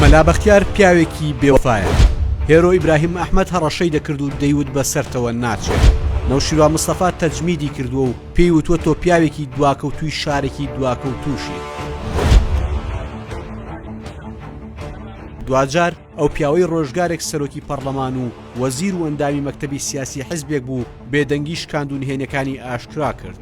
مەلا بەختیار پیاوێکی بێوەفایە هێرۆ ئیبراهیم ئەحمد هەڕەشەی دەکرد و دەیوت بە سەرتەوە ناچێت نەوشیروا مستەفا تەجمیدی کردووە و پێی وتوە تۆ پیاوێکی دواکەوتوی شارێکی دواکەوتوشی دواجار ئەو پیاوەی ڕۆژگارێک سەرۆکی پەرلەمان و وەزیر و ئەندامی مەکتتەبی سیاسی حزبێک بوو بێدەنگی شکاندونهێنەکانی ئاشکرا کرد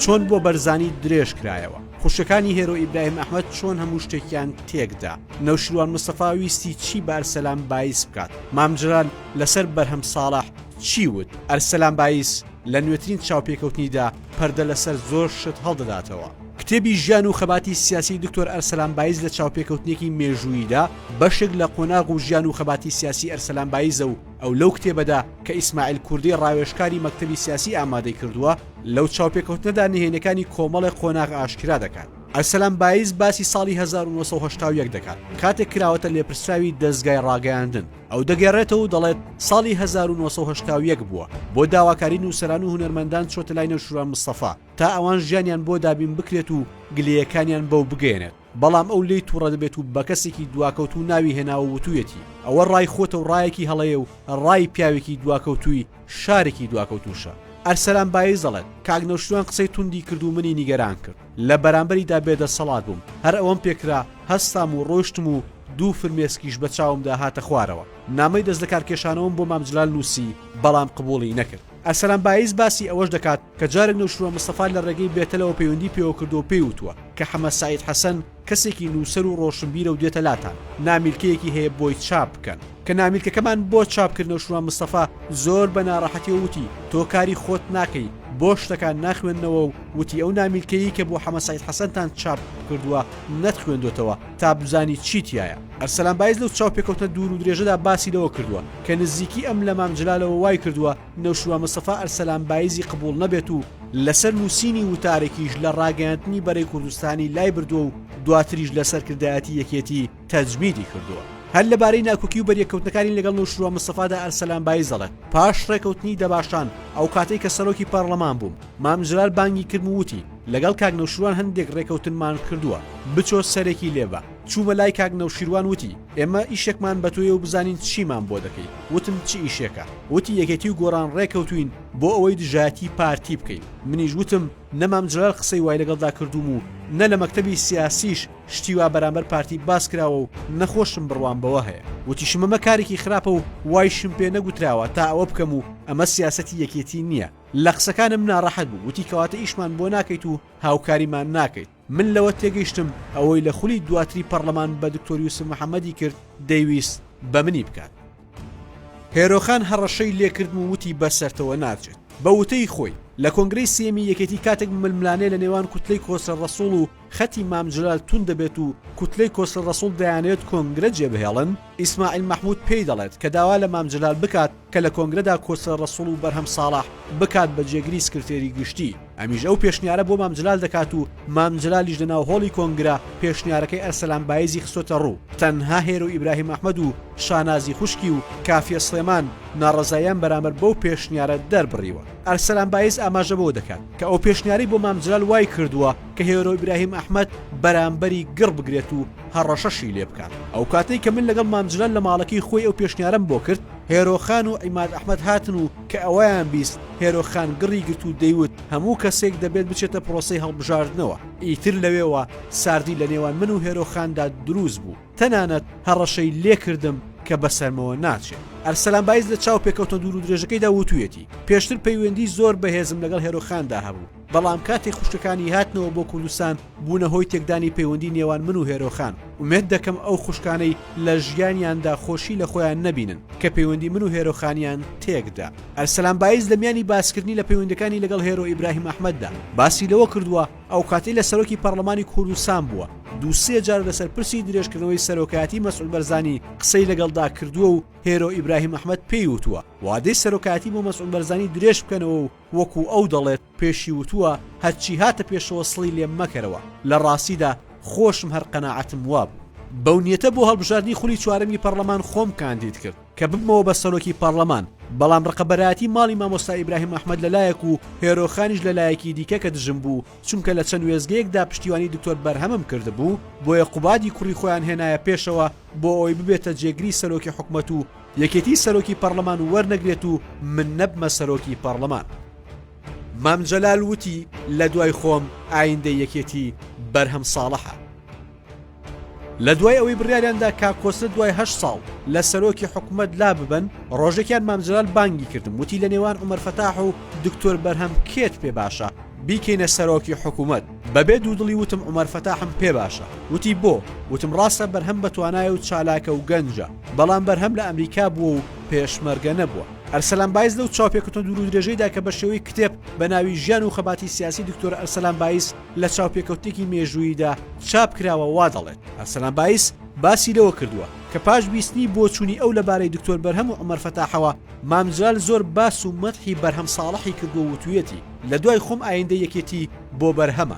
چۆن بۆ بەرزانی درێژ کرایەوە؟ خوشکەکانی هێرۆ ئیبراهیم ئەحمەد چۆن هەموو شتێکیان تێکدا؟ نەوشیروان مستەفا ویستی چی بە ئەرسەلان بایز بکات؟ مامجلال لەسەر بەرهەم ساڵح چی وت؟ ئەرسەلان بایز لە نوێترین چاوپێکەوتنیدا پەردە لەسەر زۆر شت هەڵدەداتەوە. کتێبی ژیان و خەباتی سیاسیی دکتۆر ئەرسەلان بایز لە چاوپێکەوتنێکی مێژووییدا بەشێک لە قۆناغ و ژیان و خەباتی سیاسیی ئەرسەلان بایزە و، ئەو لەو کتێبەدا کە ئیسماعیل کوردی ڕاوێژکاری مەکتەبی سیاسی ئامادەی کردووە لەو چاوپێکەوتنەدا نهێنیەکانی کۆمەڵێ قۆناغ ئاشکرا دەکات. ئەرسەلان بایز باسی ساڵی هەزار و نۆ سەد و هەشتا و یەک دەکات کاتێک کراوەتە لێپرسراوی دەزگای ڕاگەیاندن، ئەو دەگێڕێتەوە و دەڵێت ساڵی هەزار و نۆ سەد و هەشتا و یەک بووە، بۆ داواکاری نووسەران و هونەرمەندان چۆتە لای نەوشیروان مستەفا تا ئەوان ژیانیان بۆ دابین بکرێت و گلەیەکانیان بەو بگەیەنێت. بەڵام ئەو لێی توڕە دەبێت و بە کەسێکی دواکەوتوو ناوی هێناوە وتوویەتی ئەوە ڕای خۆتە و ڕایەکی هەڵەیە و ڕای پیاوێکی دواکەوتووی شارێکی دواکەوتووشە. ئەرسەلان بایز دەڵێت، کاک نەوشیروان قسەی توندی کرد و منی نیگەران کرد. لە بەرامبەریدا بێدەسەڵات بووم. هەر ئەوەم پێ کرا، هەستام و ڕۆیشتم و دوو فرمێسکیش بە چاومدا هاتە خوارەوە. نامەی دەستلەکارکێشانەوەم بۆ مام جلال نووسی، بەڵام قبووڵی نەکرد. ئەرسەلان بایز باسی ئەوەش دەکات کە جارێک نەوشیروان مستەفا لە ڕێگەی بێتەلەوە پەیوەندی پێوە کردووە و پێی وتووە کە حەمە سەعید حەسەن کەسێکی نووسەر و ڕۆشنبیرە و دێتە لاتان، نامیلکەیەکی هەیە بۆی چاپ بکەن. کە نامیلکەکەمان بۆ چاپ کرد نەوشیروان مستەفا زۆر بە ناڕەحەتیەوە وتی تۆ کاری خۆت ناکەی، بۆ شتەکان ناخوێننەوە و وتی ئەو نامیلکەیەی کە بۆ حەمە سەعید حەسەنتان چاپ کردووە نەتخوێندۆتەوە، تا بزانی چی تیایە. ئەرسەلان بایز لەو چاوپێکەوتنە دوور و درێژەدا باسی لەوە کردووە، کە نزیکی ئەم لە مام جلالەوە وای کردووە نەوشیروان مستەفا ئەرسەلان بایزی قبوڵ نەبێت و لەسەر نووسینی وتارێکیش لە ڕاگەیاندنی بەرەی کوردستانی لای بردووە و دواتریش لە سەرکردایەتی یەکێتی تەجمیدی کردووە. هەر لەبارەی ناکۆکی و بەریەککەوتنەکانی لەگەڵ نەوشیروان مستەفادا ئەرسەلان بایز دەڵێت، پاش ڕێکەوتنی دەباشان ئەو کاتەی کە سەرۆکی پارڵەمان بووم، مام جلال بانگی کردم و وتی، لەگەڵ کاک نەوشیروان هەندێک رێکەوتنمان کردووە بچۆ سەرێکی لێ بە، چوومە لای کاک نەوشیروان وتی ئێمە ئیشێکمان بە تۆیە و بزانین چیمان بۆ دەکەی، وتم چ ئیشێکە؟ وتی یەکێتی و گۆڕان رێکەوتووین بۆ ئەوەی دژایەتی پارتی بکەین، منیش وتم نە مام جەلال قسەی وای لەگەڵدا کردووم و نە لە مەکتەبی سیاسیش شتی وا بەرامبەر پارتی باس کراوە و نە خۆشم بڕوام بەوە هەیە، وتیشم ئەمە کارێکی خراپە و وایشم پێ نەگوتراوە تا ئەوە بکەم و ئەمە سیاسەتی یەکێتی نییە، لە قسەکانم ناڕەحەت بوو وتی کەواتە ئیشمان بۆ ناکەیت و هاوکاریمان ناکەیت من لەوە تێگەیشتم ئەوەی لە خولی دواتری پەرلەمان بە دکتۆر یوسف محەممەدی کرد دەیویست بە منی بکات هێرۆخان هەڕەشەی لێکردم و وتی بە سەرتەوە ناچێت بە وتەی خۆی لە کۆنگرەی سێمی یەکێتی کاتێک ململانێ لە نێوان کوتلەی کۆسرە ڕەسوڵ و خەتی مام جەلال توند دەبێت و کوتلەی کۆسرە ڕەسوڵ دەیانەوێت کۆنگرە جێبهێڵن، ئیسماعیل مەحمود پێی دەڵێت کە داوا لە مام جەلال بکات کە لە کۆنگرەدا کۆسرە ڕەسوڵ و بەرهەم ساڵح بکات بە جێگری سکرتێری گشتی، ئەمیش ئەو پێشنیارە بۆ مام جەلال دەکات و مام جەلالیش لە ناو هۆڵی کۆنگرە پێشنیارەکەی ئەرسەلان بایزی خستۆتە ڕوو، تەنها هێرۆ ئیبراهیم ئەحمەد و شانازی خوشکی و کافیە سڵێمان ناڕەزاییان بەرامبەر بەو پێشنیارە دەربڕیوە. ئەرسەلان بایز ئاماژە بەوە دەکات کە ئەو پێشنیارەی بۆ مام جەلال وایکردووە کە هێرۆ ئیبراهیم ئەحمەد بەرامبەری گڕ بگرێت و هەڕەشەشی لێ بکات. ئەو کاتەی کە من لەگەڵ مام جلال لە ماڵەکەی خۆی ئەو پێشنیارەم بۆ کرد، هێرۆ خان و عیماد ئەحمەد هاتن و کە ئەوەیان بیست، هێرۆ خان گڕی گرت و دەیوت هەموو کەسێک دەبێت بچێتە پرۆسەی هەڵبژاردنەوە. ئیتر لەوێوە ساردی لە نێوان من و هێرۆ خاندا دروست بوو. تەنانەت هەڕەشەی لێ کردم کە بەسەرمەوە ناچێت. ئەرسەلان بایز لە چاوپێکەوتنە دوورودرێژەکەیدا وتوویەتی، پێشتر پەیوەندیی زۆر بەهێزم لەگەڵ هێرۆ خاندا هەبوو. بەڵام کاتێک خوشکەکانی هاتنەوە بۆ کوردستان بوونە هۆی تێکدانی پەیوەندی نێوان من و هێرۆ خان، ئومێد دەکەم ئەو خوشکانەی لە ژیانیاندا خۆشی لە خۆیان نەبینن کە پەیوەندی من و هێرۆ خانیان تێکدا. ئەرسەلان بایز لە میانی باسکردنی لە پەیوەندیەکانی لەگەڵ هێرۆ ئیبراهیم ئەحمەددا باسی لەوە کردووە، ئەوکاتەی لە سەرۆکی پەڕڵەمانی کوردستان بووە دوو سێ جار لەسەر پرسی درێژکردنەوەی سەرۆکایەتی مەسعود بەرزانی قسەی لەگەڵدا کردووە و هێرۆ ئیبراهیم ئەحمەد پێی وتووە وادەی سەرۆکایەتی بۆ مەسعود بەرزانی درێژ بکەنەوە و وەکو ئەو دەڵێت پێشی وتووە هەرچی هاتە پێشەوە سڵی لێ مەکەرەوە، لە ڕاستیدا خۆشم هەر قەناعەتم وابوو. بەو نیەتە بۆ هەڵبژاردنی خولی چوارەمی پەڕڵەمان خۆم کاندید کرد کە ببمەوە بە سەرۆکی پەڕڵەمان، بەڵام ڕقەبەرایەتی ماڵی مامۆستا ئیبراهیم ئەحمەد لە لایەک و هێرۆخانیش لە لایەکی دیکە کە دژم بوو، چونکە لە چەند وێستگەیەک دا پشتیوانی دکتۆر بەرهەمم کردبوو، بۆیە قوبادی کوڕی خۆیان هێنایە پێشەوە بۆ ئەوەی ببێتە جێگری سەرۆکی حکومەت و یەکێتی سەرۆکی پەڕلەمان وەرنەگرێت و من نەبمە سەرۆکی پەڕلەمان. مام جەلال وتی، لە دوای خۆم ئایندەی یەکێتی بەرهەم ساڵەحە. لە دوای ئەوەی بڕیاریان دا کاک کۆسرەت دوای هەشت ساڵ لە سەرۆکی حکوومەت لا ببەن، ڕۆژێکیان مام جەلال بانگی کردم وتی لە نێوان عومەر فەتاح و دکتۆر بەرهەم کێت پێ باشە بیکەینە سەرۆکی حکوومەت؟ بەبێ دوودڵی وتم عومەر فەتاحم پێ باشە. وتی بۆ؟ وتم ڕاستە بەرهەم بەتوانایە و چالاکە و گەنجە. بەڵام بەرهەم لە ئەمریکا بووە و پێشمەرگە نەبووە. ئەرسەلان بایز لەو چاوپێکەوتنە دوورودرێژەیدا کە بە شێوەی کتێب بە ناوی ژیان و خەباتی سیاسی دکتۆر ئەرسەلان بایز لە چاوپێکەوتنێکی مێژووییدا چاپ کراوە وا دەڵێت، ئەرسەلان بایز باسی لەوە کردووە کە پاش بیستنی بۆچوونی ئەو لەبارەی دکتۆر بەرهەم و عومەر فەتاحەوە، مام جلال زۆر باس و مەدحی بەرهەم ساڵحی کردووە و وتوویەتی، لە دوای خۆم ئایندەی یەکێتی بۆ بەرهەمە.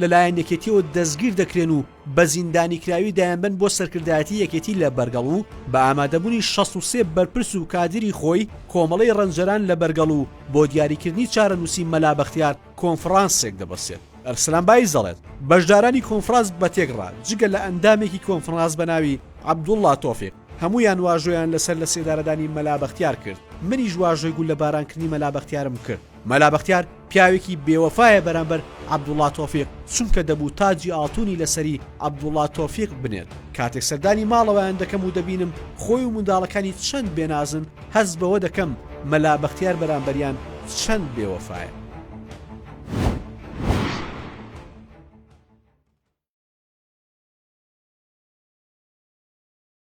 لەلایەن یەکێتیەوە دەستگیر دەکرێن و بە زیندانیکراوی دایەنبەن بۆ سەرکردایەتی یەکێتی لە بەرگەڵ و بە ئامادەبوونی شەست و سێ بەرپرس و کادیری خۆی کۆمەڵەی ڕەنجەران لە بەرگەڵ و بۆ دیاریکردنی چارەنووسی مەلا بەختیار کۆنفڕانسێک دەبەستێت. ئەرسلان بایز دەڵێت، بەشدارانی کۆنفڕاس بەتێکڕا جگە لە ئەندامێکی کۆنفڕاس بە ناوی عەبدوڵڵا تۆفیق هەموویان واژۆیان لەسەر لەسێدارەدانی مەلا بەختیار کرد، منیش واژۆی گوللەبارانکردنی مەلا بەختیارم کرد، مەلا بەختیار پیاوێکی بێ وەفایە بەرامبەر عەبدوڵا تۆفیق چونکە دەبوو تاجی ئاڵتونی لە سەری عەبدوڵا تۆفیق بنێت کاتێک سەردانی ماڵەوەیان دەکەم و دەبینم خۆی و منداڵەکانی چەند بێ نازن هەست بەوە دەکەم مەلا بەختیار بەرامبەریان چەند بێ وەفایە.